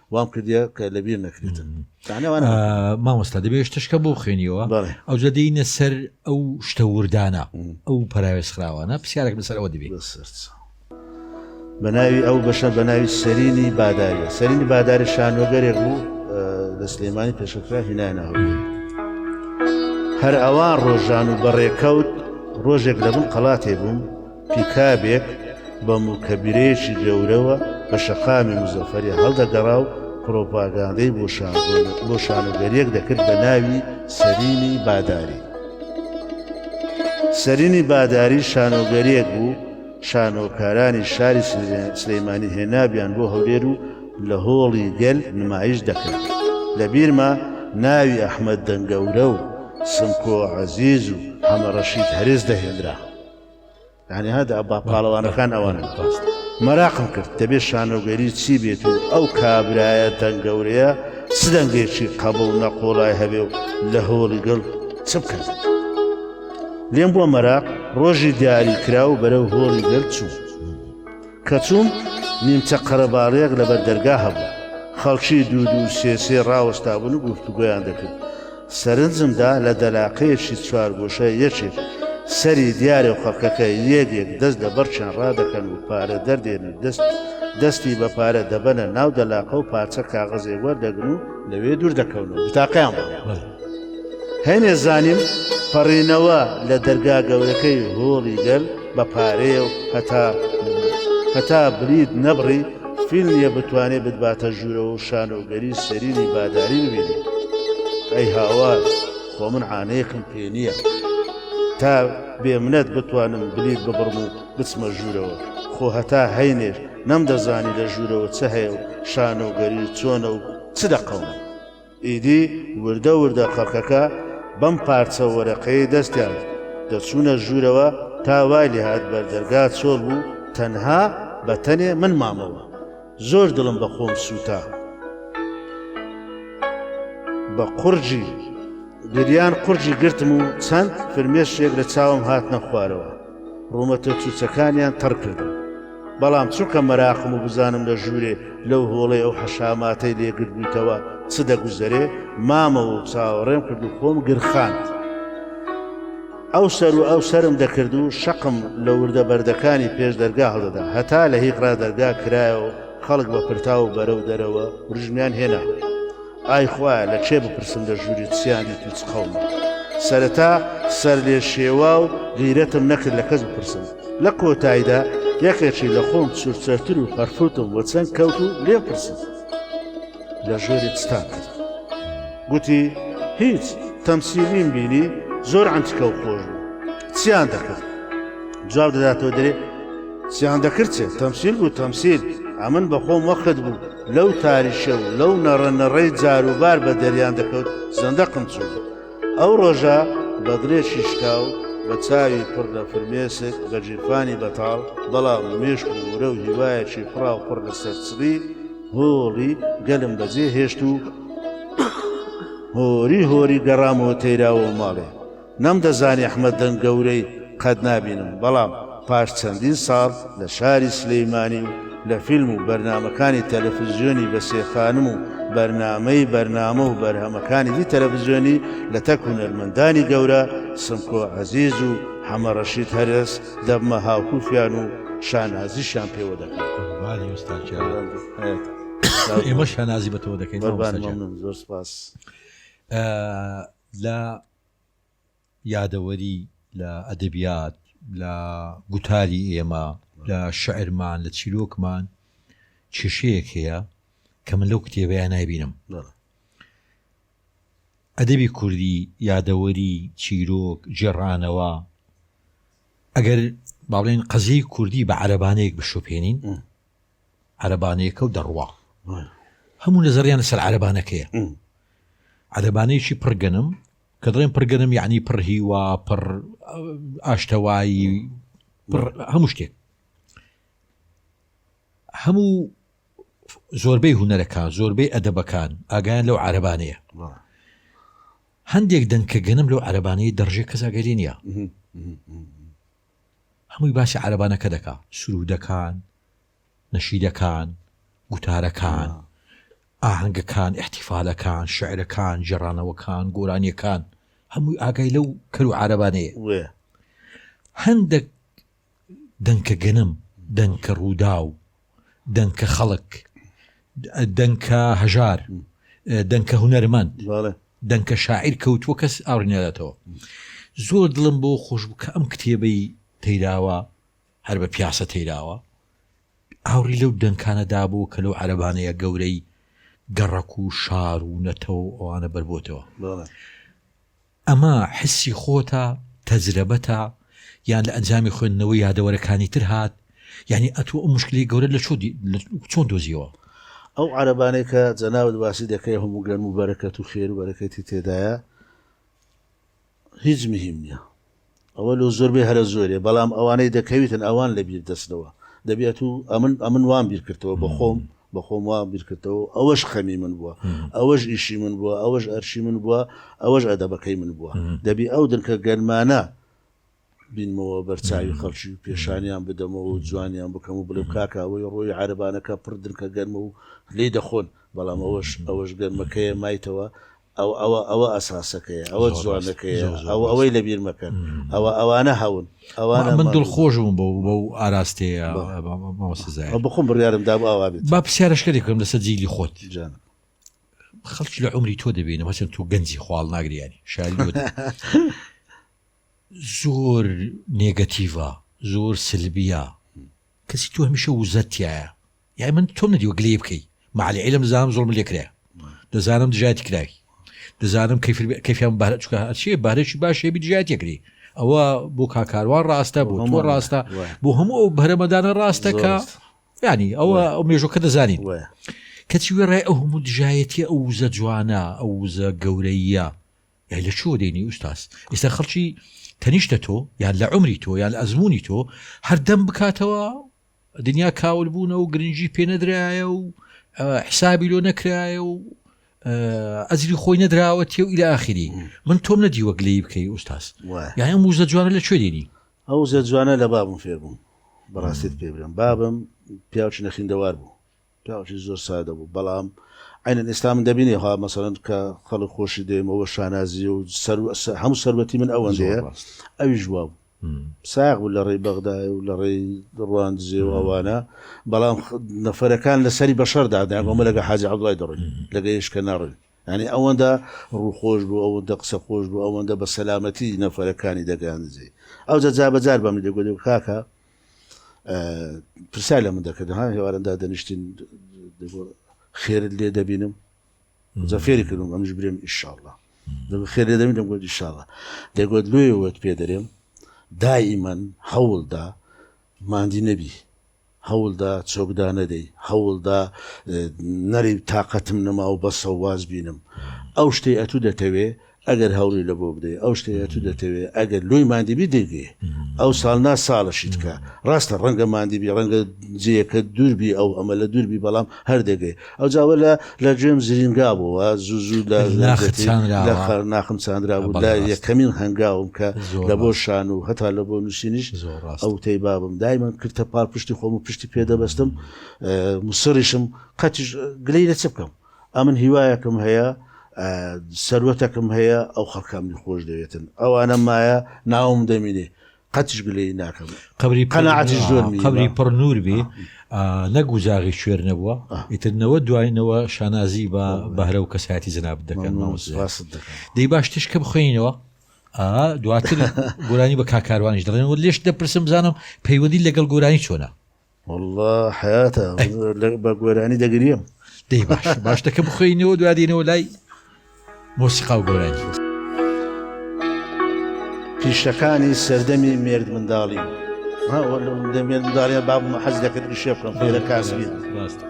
وام کردە کە لەبیر نەکرێتن مامۆستا دەبێت شتشکە بۆ خوێنیەوە ئەو جە دەینە سەر ئەو شتە وردانە ئەو پراوێز خراوانە پرسیارێک لەسەرەوە دەبێت بەناوی ئەو بەشە بەناوی سەرینی باداری سەرینی باداری شانۆگەرێک بوو لە سلێمانی پێشکرا هینانەوە هەر ئەوان ڕۆژان و بەڕێکەوت ڕۆژێک لەبوون قەڵاتێ بووم پیکابێک بە موکەبیرەیەکی گەورەوە بە شەقامی موزەفەری هەڵدەگەڕا و پرۆپاگاندەی بۆ شانۆگەریەک دەکرد بە ناوی سەرینی باداری. سەرینی باداری شانۆگەریەک بوو شانۆکارانی شاری سلەیمانی هێنابیان بۆ هەولێر و لە هۆڵی گەل نمایش دەکرد لە بیرمە ناوی ئەحمد دەنگەورە و سمکۆ عزیز و حەمەڕەشید هەرێز دەهێنرا یعنی هەدا با پاڵەوانەکان ئەوانە بەڕاست مەراقم کرد دەبێت شانۆگەری چی بێت و ئەو کابرایە دەنگ گەورەیە چ دەنگێکی قەبڵ نەقۆڵای هەبێ و لە هۆڵی گەڵ چ بکەن لێم بۆ مەراق ڕۆژی دیاری کرا و بەرەو هۆڵی گەل چوو کە چووم، نیمچە قەرەباڵغێک لەبەر دەرگا هەبوو. خەڵکی دوو دوو سێ سێ ڕاوەستابوون و گفتوگۆیان دەکرد. سەرنجم دا لە دەلاقەیەکی چوارگۆشە یەکێک سەری دیارە و خەڵکەکە یەک یەک دەست لە بەڕکیان ڕادەکەن و پارە دەردێنن و دەست دەستی بە پارە دەبەنە ناو دەلاقە و پارچە کاغەزێک وەردەگرن و لەوێ دوور دەکەون و بتاقەیان بۆ هەینێ زانیم پەڕینەوە لە دەرگا گەورەکەی هۆڵی گەل بە پارەیە و هەتا هەتا بریت نەبڕی فیلمیە بتوانێت بدباتە ژوورەوە و شانۆگەری سەرینی باداری ببینێ ئەی هاوار خۆ من عانەیەکم پێ نییە تا بێ منەت بتوانم بلیت ببڕم و بچمە ژوورەوە خۆ هەتا هەینێش نەم دەزانی لە ژوورەوە چ هەیە و شانۆگەری چۆنە و چ دەقەوم ئیدی وردە وردە خەڵکەکە بەم پارچە وەرەقەی دەستیان دەچوونە ژوورەوە تا وای لێهات بەردەرگا چۆڵ بوو تەنها بەتەنێ من مامەوە زۆر دڵم بە خۆم سووتا بە قڕجی گریان قڕجی گرتم و چەند فرمێشێک لە چاوم هاتنە خوارەوە ڕوومەتە چوچەکانیان تەڕ کردم بەڵام چونکە مەراقم و بزانم لە ژوورێ لەو هۆڵی ئەو حەشاماتەی لێگرت بوویتەوە چ دەگوزەرێ مامە و چاوەڕێم کرد و خۆم گرخاند. ئەو سەر و ئەو سرم دەکرد و شەقم لە وردە بەردەکانی پێش دەرگا هەڵدەدا هەتا لە هیقرا دەرگا کرایەوە خەڵک بە پرتاو و بەرەو دەرەوە ورژمیان هێنا. ئای خوایە لە کێ بپرسم لە ژووری چیانی تو چ قەومە؟ سەرەتا سەرلێشێوا و غیرەتم نەکرد لە کەس بپرسم لە کۆتایدا یەکێکی لە خۆم چورچەرتر و پەرفوتم وە چەند کەوت و لێ پرسم لە ژووری چتان کرد گوتی هیچ تەمسیلیم بینی زۆر ئەنتکە و خۆش بوو چیان دەکرد جواب دەداتەوە درێ چیان دەکرد چێت تەمسیل بوو تەمسیل ئەمن بەخۆم وەخت بوو لەو تاریشە و لەو نەڕە نەڕەی جاروبار بە دەریان دەکەوت زەندەقم چوو ئەو ڕۆژە بە دڵێ شیشکا و بە چاوی پڕ لە فرمێسک بە جیرفانی بەتاڵ بەڵام مێشک و ورە و هیوایەکی پڕا و پڕ لە سەرچڵی هۆڵی گەلم بەجێ هێشت و هۆری هۆری گەڕامەوە تەیراوە ماڵێ نەمدەزانی ئەحمەد دەنگ گەورەی قەت نابینم، بەڵام پاش چەندین ساڵ لە شاری سلیمانی و لە فیلم و بەرنامەکانی تەلەفزیۆنی بەسێ خانم و بەرنامەی بەرنامە و بەرهەمەکانی دی تەلەفزیۆنی لەتەک هونەرمەندانی گەورە سمکۆ عەزیز و حەمە ڕەشید هەرەس دەبمە هاوکوفیان و شانازیشیان پێوە دەکەم. قوربانی ئوستاز گیان ئێمەش شانازی بە تۆ دەکەین مامۆستا گیان. قوربان مەمنون زۆر سوپاس. لە یادەوەری، لە ئەدەبیات، لە گوتاری ئێمە، لە شیعرمان، لە چیرۆکمان کێشەیەک هەیە کە من لەو کتێبەیە نایبینم. ئەدەبی کوردی یادەوەری چیرۆک جێڕانەوە ئەگەر باڵێن قەزیی کوردی بە عەرەبانەیەک بشوپێنین عەرەبانەیەکەو دەڕوا هەموو نەزەریان لەسەر عەرەبانەکەیە عەرەبانەیەکی پڕ گەنم کە دڵێن پڕ گەنم یعنی پڕ هیوا پڕ ئاشتەوایی هەموو شتێک هەموو زۆربەی هوەرەکان زۆربەی ئەدەبەکان ئاگیان لەو عربانەیە هەندێک دەنکە گەنم لەو عربانەی دەڕژێ کەساگەلی نیە هەمووی باسی عەرەبانەکە دەکا سروودەکان نەشیدەکان گوتارەکان ئاهەنگەکان ئیحتیفالەکان شعرەکان جێڕانەوەکان گۆرانیەکان هەمووی ئاگای لەو کەرو عربانەیە هەندێک دەنکە گەنم دەنکە ڕوودا و دەنکە خەڵک دەنکە هەژار دەنکە هوەرمەند دەنکە شاعیر کەوتووە کەس ئاڕینەداتەوە زۆر دڵم بۆ خۆش بکە ئەم کتێبەی تەیراوە هەر بە پیاسە تەیراوە ئاوری لەو دەنکانەدا بوو کە لەو عەربانەیە گەورەی گەڕک و شار و نەتەوە ئەوانە بەربتەوە ئەمە حسی خۆتە، تەجرەبەتە، یان لە ئەنجامی خوێندنەوەی یادەوەرەکانی تر هات؟ یانی ئەتۆ ئەو موشکیلەی گەورەت لە چۆن دۆزیەوە؟ ئەو عەرەبانەی کە جەنابت باسی دەکەی هەموو گەرم و بەرەکەت و خێر و بەرەکەتی تێدایە هیچ مهیم نیە. ئەوە لۆ زۆربەی هەرە زۆرێ بەڵام ئەوانەی دەکەویتن ئەوان لە بیر دەچنەوە دەبی ئەتو ئەمن ئەمن وام بیر کردەوە بە خۆم بە خۆم وام بیر کردەوە ئەوەش خەمی من بووە ئەوەش ئیشی من بووە ئەوەش ئەرشی من بووە ئەوەش ئەدەبەکەی من بووە دەبی ئەو دنکە گەرمانە بینمەوە بەرچوی خەڵکی و پێشانیان بدەمەوە و جوانیان بکەم و بڵێ کاکە ئەوەی ڕۆی عربانەکە پڕ دنکە گەرمە و لی دەخۆن بەڵام ئەوەش ئەوەش گەرمەکەیە مایتەوە ئەوە ئەوە ئەوە ئەساسەکەیە ئەوە زۆر ڕاست، جوانەکەیە زۆر زۆر ئەوە ڕاست. ئەوەی لەبیر مەکەن ئەوە ئەوانە هەون ئەوانە من دڵ خۆش بووم بەو بەو ئاراستەیە مامۆستا زاهیر. ئەو بخۆم بڕیارم دابوو ئاوا بێت با پرسیارەشکەری بکەم لەسەر جیلی خۆت جان خەڵکی لە عمری تۆ دەبینم هەچەند تۆ گەنجی خواڵ ناگریانی شاری لۆ زۆر نێگەتیڤە زۆر سلبیە کەسی تۆ هەمیشە وزەتایە یای من تۆم ندیوە گلەی بکەی معلی عیلم دەزانم زۆڵم لێ کرا دەزانم دژایەتی کراوی دەزانم کەفیان بار چکە هەچێ بارێکی باش هێبی دژایەت یەکری ئەوە بۆ کاکاروان ڕاستە بۆ تۆ ڕاستە بۆ هەموو ئەو بەرەمەدانە ڕاستە کە ینی ئەوە ئەو مێژۆکە دەزانین کەچی وێ ڕای ئەو هەموو دژایەتی ئەو وزە جوانە ئەو وزە گەورەیە یای لە چۆ دێنی ئوستاس ئێستا خەڵکی تەنیشتە تۆ یان لە عمری تۆ یان ئەزمموی تۆ هەردەم بکاتەوە دنیا کاول بوونە و گرنگی پێ نەدرایە و حسابی لۆ نەکرایە و ئەزری خۆی نەدراوە تێ و ئیلا ئاخری من تۆم نەدیوە گلەی بکەی ئوستاس یاە موزە جوانە لە کوێ دێنی ئەو زە جوانە لە بابم فێربووم بەڕاستیت پێ بڵێم بابم پیاوچی نەخیندەوار بوو پیاوەکی زۆر سادە بوو بەڵام عەینەن ئێستا من دەبینێ ها مەسەلەن کە خەڵک خۆشی دەوێمەوە و شانازییە و سەرو هەموو سەروەتی من ئەوەندەیە زۆر ڕاست ئەویش وا بوو ساغ بوو لە ڕێی بەغدایە و لە ڕێی ڕواندزێ و ئەوانە بەڵام نەفەرەکان لە سەری بەشەر دادەیان ئەمە لەگە حاجی عەبدوڵای دەڕۆین لەگە یشکە ناڕۆین یعنی ئەوەندە ڕووخۆش بوو ئەوەندە قسە خۆش بوو ئەوەندە بە سەلامەتی نەفەرەکانی دەگەیاندزێ ئەوجا جا بەجار بەمنی دەگوت کاکە پرسیار لە من دەکردن ها هێوارن دادەنیشتین خێرت لێ دەبینم جا فێری کردم ئەمش برێم ئیشاءله خێر لێ دەبینم گوت ئیشاءله دەگوت لێ وت پێ دەرێم دائیمەن هەوڵدا مادی نەبی هەوڵدا چۆکدا نەدەی هەوڵدا نەری تااقەتم نەما و بەسەواز بینم ئەو شتەی ئەتوو دەتەوێ ئەگەر هەوڵی لە بۆ بدەی ئەو شتەیە تو دەتەوێ ئەگەر لۆی ماندیبی دەگەی ئەو ساڵ نا ساڵەشیت کە ڕاستە ڕەنگە ماندیبی ڕەنگە جێەکە دووربی ئەو ئەمە لە دووربی بەڵام هەردەگەی ئەو جاوە لە لە گوێم زرینگا بۆەوە زوو زوو لە ناخم چاندرا بوو لە یەکەمین هەنگاوم کە لە بۆ شان و هەتا لە بۆ نووسینیش ئەو تەی بابم دایمە کرتە پاڵ پشتی خۆم و پشتی پێدەبستم مسڕیشم قەتیش گلەی لە چ بکەم ئەمن هیوایەکم هەیە سەروەتەکم هەیە ئەو خەڵکە منی خۆش دەوێتن ئەوانە مایە ناوم دەمینێ قەتش گلەی ناکەم قبری قەنەعەتیش زۆر نییە. قبری پڕ نور بێ نەک وزاغی شوێر نەبووە آه. ئیترنەوە دواینەوە شانازی بە والله. بەهرە و کەسایەتی جناب دەکەن ممنون مامۆستا سپاست دەکەم دەی باش تشکە بخوێنەوە ئا دواتر گۆرانی بە کاکاروانیش دەڵێن و لێش دەپرسم بزانم پەیوەندی لەگەڵ گۆرانی چۆنە واللە حیاتە بە گۆرانی دەگریم دەی باش باشتەکە بخۆینەوە دوادینەوە لای مۆسیقا و گۆرانی پیشەکانی سەردەمی مێرد منداڵی دەمێن داڵە بابمە حەز دەکرد شێ بکەم پێرە کاسبی ڕاستە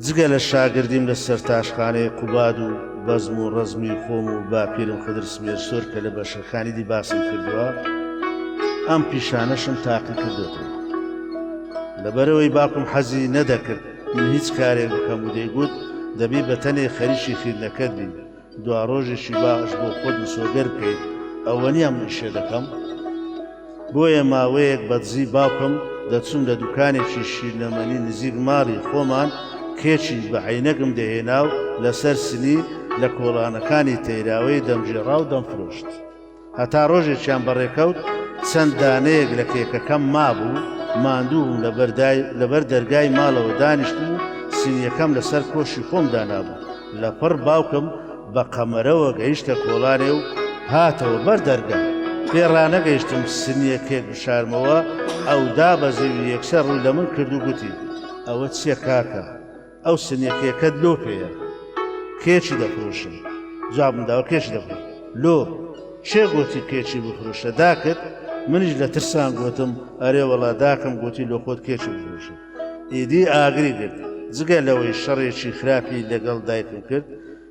جگە لە شاگردیم لە سەرتاشخانەی قوباد و بەزم و ڕزمی خۆم و باپیرم خدر سمێرسۆر کە لە بەشەکانی دی باسم کردووە ئەم پیشانەشم تاقی کردێتەوە لەبەرەوەی باپم حەزی نەدەکرد من هیچ کارێک بکەم و دەیگوت دەبی بە تەنێ خەریکی خیرنەکەت بین دوا ڕۆژێکی باش بۆ خۆت مسۆگەر بکەیت ئەوە نیە من ئیشێ دەکەم بۆیە ماوەیەک بەدزی باوکم دەچوون لە دوکانێکی شیرنەمەنی نزیک ماڵی خۆمان کێچی بە عینەگم دەهێنا و لەسەر سنی لە کۆڵانەکانی تەیراوەی دەمگێڕا و دەمفرۆشت. هەتا ڕۆژێکیان بەڕێکەوت چەند دانەیەک لە کێکەکەم مابوو ماندوو بووم لەبەر دەرگای ماڵەوە دانیشت و سینیەکەم لەسەر کۆشی خۆم دانابوو لە پڕ باوکم بە قەمەرەوە گەیشتە کۆڵانێ و هاتەوە بەر دەرگا پێ ڕانەگەیشتم سنیە کێک بشارمەوە ئەودا بە زەوی یەکسەر ڕوو لە من کرد و گوتی ئەوە چیە کاکە ئەو سنیەکەکەت لۆ پێیە کێچی دەفرۆشن جوابم داوە کێش دەبن لۆ چێ گوتی کێچی بفرۆشە داکرد منیش لە ترسان گوتم ئەرێ وەڵا داکەم گوتی لۆ خۆت کێچی بفرۆشە ئیدی ئاگری گرت جگە لەوەی شەڕێکی خراپی لەگەڵ دایکم کرد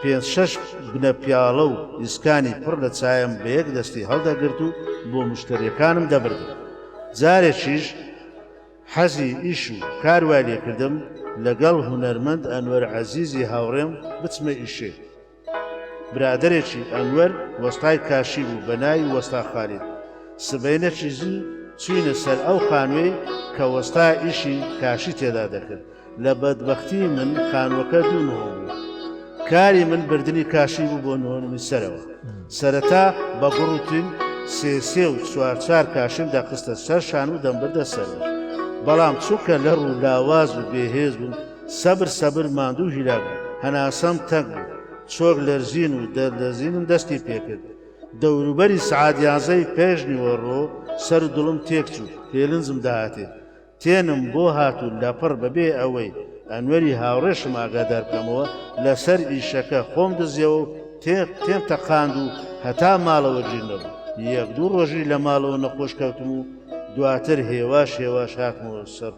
پێنج شەش بنە پیاڵە و ئیسکانی پڕ لە چایم بە یەک دەستی هەڵدەگرت و بۆ مشتەریەکانم دەبردم. جارێکیش حەزی ئیش و کار وای لێکردم لەگەڵ هونەرمەند ئەنوەر عەزیزی هاوڕێم بچمە ئیشێ. برادەرێکی ئەنوەر وەستای کاشی بوو بە ناوی وەستا خالید. سبەینێکی زوو چووینە سەر ئەو خانووەی کە وەستا ئیشی کاشی تێدا دەکرد. لە بەدبەختی من خانووەکە دوو نهۆ بوو. کاری من بردنی کاشی بوو بۆ نهۆ نووسەرەوە. سەرەتا بە گوڕ و تین سێ سێ و چوار چوار کاشیم دەخستە سەر شان و دەمبردە سەروو. بەڵام چونکە لەڕ و لاواز و بێهێز بووم، سەبر سەبر ماندوو و هیلاک بووم. هەناسەم تەنگ بوو. چۆک لەرزین و دەرلەرزینم دەستی پێکرد. دەوروبەری سەعات یانزەی پێش نیوەڕۆ سەر و دڵم تێکچوو. پێلنجم داهاتێ. تێنم بۆ هات و لەپڕ بەبێ ئەوەی ئەنوەری هاوڕێشم ئاگادار بکەمەوە لەسەر ئیشەکە خۆم دزیەوە و تێق تێم تەقاند و هەتا ماڵەوە گیر نەبوو یەک دوو ڕۆژی لە ماڵەوە نەخۆش کەوتم و دواتر هێواش هێواش هاتمەوە سەر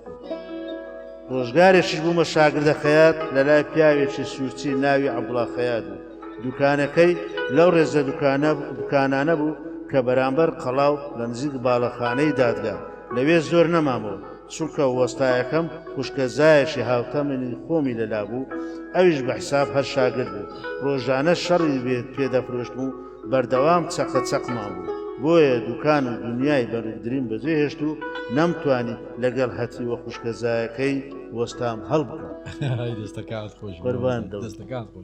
ڕۆژگارێکیش بوومە شاگردە خەیات لە لای پیاوێکی سوورچی ناوی عەبڵا خەیات بوو دوکانەکەی لەو ڕێزە دوکانانە بوو کە بەرامبەر قەڵاو لە نزیک باڵەخانەی دادگا لەوێ زۆر نەمامەوە چونکە وەستایەکەم خوشکە زایەشی هاوتە منی خۆمی لەلا بوو ئەویش بە حساب هەر شاگرد بوو ڕۆژانە شەڕی بێت پێدەفرۆشت و بەردەوام چەقە چەقمان بوو بۆیە دوکان و دنیای بەرگدرین بەجێ هێشت و نەمتوانی لەگەڵ هەتی وە خوشکەزایەکەی وەستام هەڵبکەم دەستەکان خۆش بەربان دەستەکان خۆش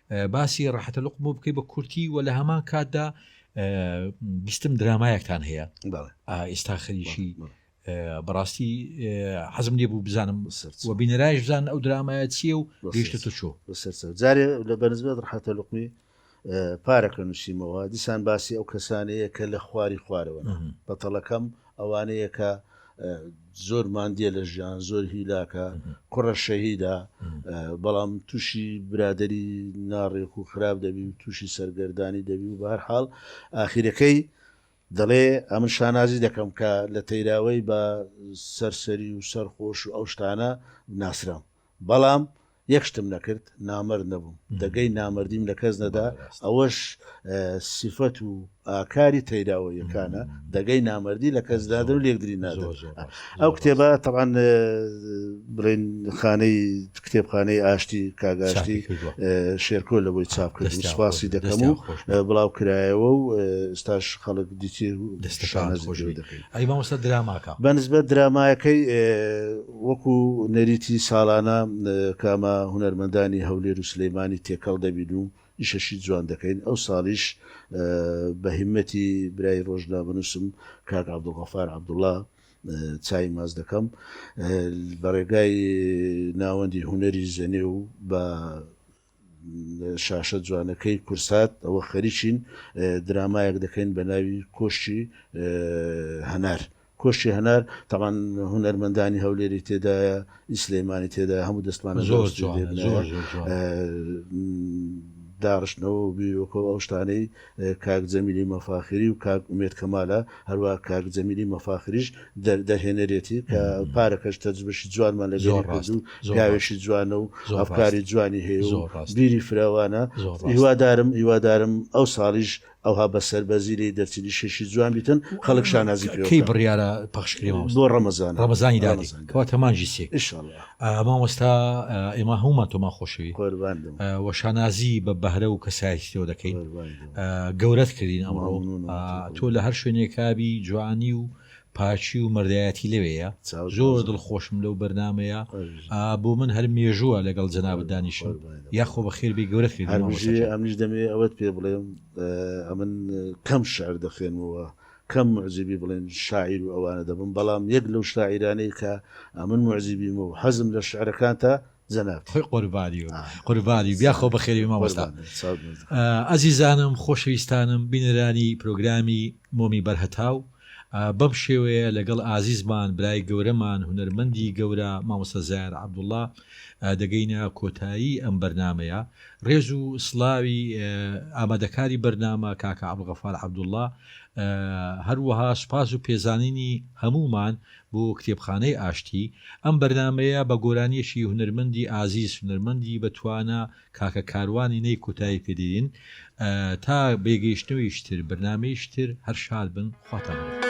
باسی ڕەحەتە لوقم بۆ بکەی بە کورتی و لە هەمان کاتدا بیستم درامایەکتان هەیە ئێستا خەریشی بەڕاستی حەزم لێ بوو بزانم و بینەرایش بزان ئەو درامایە چیە و گەشتە تۆ چۆ جارێ لە بەنزبێت ڕحەتە لقمی پارەکە نووسیمەوە دیسان باسی ئەو کەسانەیە کە لە خواری خوارەوە بەتەڵەکەم ئەوانەیە کە زۆر ماندیە لە ژیان زۆر هیلاکە کوڕە شەهیدا بەڵام تووشی برادری ناڕێک و خراپ دەبی و تووشی سەرگەردانی دەبی و بار حاڵ ئاخیرەکەی دەڵێ ئەمن شانازی دەکەم کە لە تەیراوەی بە سەرسەری و سەرخۆش و ئەو شتانە ناسرام بەڵام یەک شتم نەکرد نامەرد نەبووم، دەگەی نامەردیم لە کەس نەدا، ئەوەش سیفەت و ئاکاری تەیراوەییەکانە، دەگەی نامەردی لە کەس دادەن و لێکدری نادەن. ئەو کتێبە تەبعەن بڵێن خانەی کتێبخانەی ئاشتی کاک ئاشتی شێرکۆ لەوەی چاپ کرد و سوپاسی دەکەم و بڵاوکرایەوە و ئێستاش خەڵک دیتیە و دەستەکانت خۆشبی. ئەی مامۆستا دراماکە؟ بەنسبەت درامایەکەی وەکو نەریتی ساڵانە کە ئەمە هونەرمەندانی هەولێر و سلێمانی تێکەڵ دەبین و ئیشەشی جوان دەکەین ئەوساڵیش بە هیمەتی برای ڕۆژنامەنووسم کاک عەبدولغەفار عەبدوڵا چای ماس دەکەم بە ڕێگای ناوەندی هونەری زەنێ و بە شاشە جوانەکەی کورسات ەوە خەریکین درامایەک دەکەین بە ناوی کۆشکی هەنار. کۆشکی هەنار تەبان هونەرمەندانی هەولێری تێدایە ئی سلێمانی تێدایە هەموو دەستمانە زۆر جوانە زۆر زۆر جوانە. داڕشتنەوە و بیرۆکە و ئەو شتانەی کاک جەمیلی مەفاخری و کاک ئومێد کەمالە هەروا کاک جەمیلی مەفاخریش دەر دەرهێنەرێتی کە پارەکەش تەجروبەشی جوانمان لەگەری کرد و پیاوێکی جوانە و ئەفکاری جوانی هەیە و بیری فراوانە هیوادارم هیوادارم ئەو ساڵیش ئەوها بە سەربەرزی لێی دەرچن ئیشێکی جوان بیتن خەڵک شانازی پێوە کەی بڕیارە پەخشکرێ مامۆستا بۆ ڕەمەزان ڕەمەزانی دادی کەواتە مانگی سێ ان شاء اللە. مامۆستا ئێمە هەموومان تۆمان خۆشەوی و شانازی بە بەهرە و کەسایەتی تۆ دەکەین گەورەت کردین ئەمڕۆ تۆ لە هەر شوێنێکابی جوانی و پاچی و مەردایەتی لەوەیە زۆر دڵخۆشم لەو بەرنمەیە بۆ من هەر مێژووە لەگەڵ جەناب دانیشم یاخۆ بە خێربی گەورەت کردین ئەمیش دەمێ ئەوەت پێ بڵێم ئەمن کەم شعر دەخێنمەوە کەم موعجیبی بڵێن شاعیر و ئەوانە دەبم، بەڵام یەک لەو شاعیرانەی کە ئەمن موعجیبیمە و حەزم لە شعرەکانتە جەنابتی. قوربانی بم قوربانی بیا خۆ بەخێربێی مامۆستا ئەزیزانم خۆشەویستانم بینەرانی پرۆگرامی مۆمی بەر هەتاو بەم شێوەیە لەگەڵ ئازیزمان برای گەورەمان هونەرمەندی گەورە مامۆستا زاێر عەبدوڵا دەگەینە کۆتایی ئەم بەرنامەیە ڕێز و سڵاوی ئامادەکاری بەرنامە کاکە عەبدوڵغەفار عەبدوڵا هەروەها سوپاس و پێزانینی هەموومان بۆ کتێبخانەی ئاشتی. ئەم بەرنامەیە بە گۆرانیەکی هونەرمەندی ئازیز، هونەرمەندی بە توانا کاکە کاروانی نەی کۆتایی پێ دێنین. تا بێگەیشتنەوەیکی تر، بەرنامەیەکی تر، هەر شاد بن. خواتان لەگەڵ.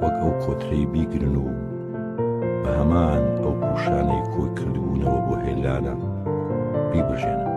وەک ئەو کۆترەی بیگرن و بە هەمان ئەو پوشانەی کۆی کردبوونەوە بۆ هێلانە بیبژێنن